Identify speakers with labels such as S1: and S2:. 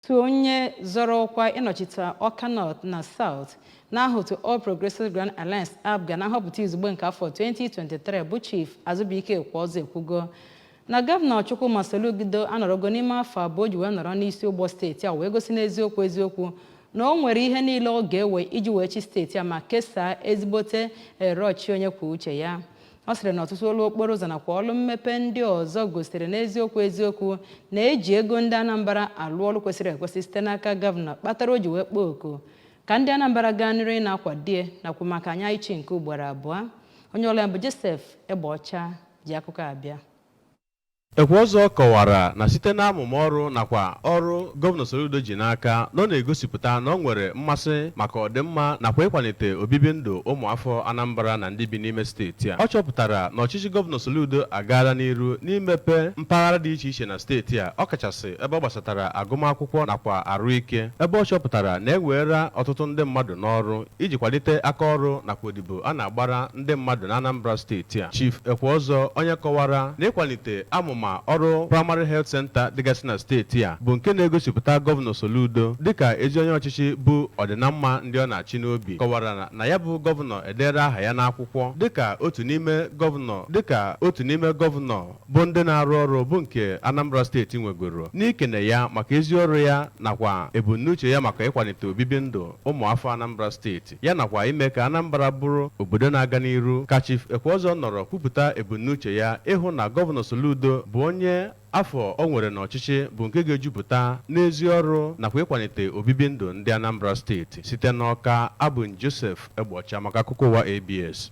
S1: otu onye zọrọ ọkwa ịnọchite Ọka North na South n'aha otu All Progressives Grand Alliance APGA na nhọpụta izugbe nke afọ 2023 bụ Chief Azụbụike Ekweọzọ ekwugo na gọvanọ Chukwuma Soludo anọrọgo n'ime afọ abụọ o ji wee nọrọ n'isi ụgbọ steeti a wee gosi n'eziokwu eziokwu na o nwere ihe niile ọ ga-ewe iji wee chịa steeti a ma kesaa ezigbote erere ọchịchị onye kwuo uche ya ọ sịrị na ọtụtụ ọlụ okporo ụzọ nakwa ọlụ mmepe ndị ọzọ gosiri n'eziokwu eziokwu na e ji ego ndị Anambra alụ ọlụ kwesịrị ekwesị site n'aka gọvanọ kpatara o ji wee kpọọ oku ka ndị Anambra gaa n'iru ịna-akwado ya nakwa maka anya ịchị nke ugboro abụọ onye ọlụ anyị bụ Joseph Egbeọcha ji akụkọ abịa
S2: Ekweọzọ kọwara na site n'amụma ọrụ nakwa ọrụ Gọvanọ Soludo ji n'aka na ọ na-egosipụta na ọ nwere mmasị maka ọdịmma nakwa ịkwalite obibi ndụ ụmụafọ Anambra na ndị bi n'ime steeti a. Ọ chọpụtara na ọchịchị Gọvanọ Soludo agaala n'iru n'imepe mpaghara dị iche iche na steeti a, ọkachasị ebe ọ gbasatara agụmakwụkwọ nakwa arụike, ebe ọ chọpụtara na e weela ọtụtụ ndị mmadụ n'ọrụ. Iji kwalite aka ọrụ nakwa odibo a na-agbara ndị mmadụ n'Anambra steeti a, Chief Ekweọzọ onye kọwara na ịkwalite amụma ọrụ Primary Health Centre dịgasị na steeti a bụ nke na-egosipụta Gọvanọ Soludo dịka ezi onye ọchịchị bu ọdịnamma ndị ọ na-achị n'obi, kọwara na ya bụ Gọvanọ edeela aha ya n'akwụkwọ dịka otu n'ime Gọvanọ bụ ndị na-arụ ọrụ bụ nke Anambra steeti nwegoro n'ikene ya maka ezi ọrụ ya nakwa ebumnuche ya maka ịkwalite obibi ndụ ụmụafọ Anambra steeti ya nakwa ime ka Anambra bụrụ obodo na-aga n'iru ka Chief Ekweọzọ nọrọ kwupụta ebumnuche ya ịhụ na Gọvanọ Soludo bụ onye afọ o nwere n'ọchịchị bụ nke ga-ejupụta n'ezi ọrụ nakwa ịkwalite obibi ndụ ndị Anambra steeti site n'Ọka abụ m Joseph Egbeọcha maka akụkọ ụwa ABS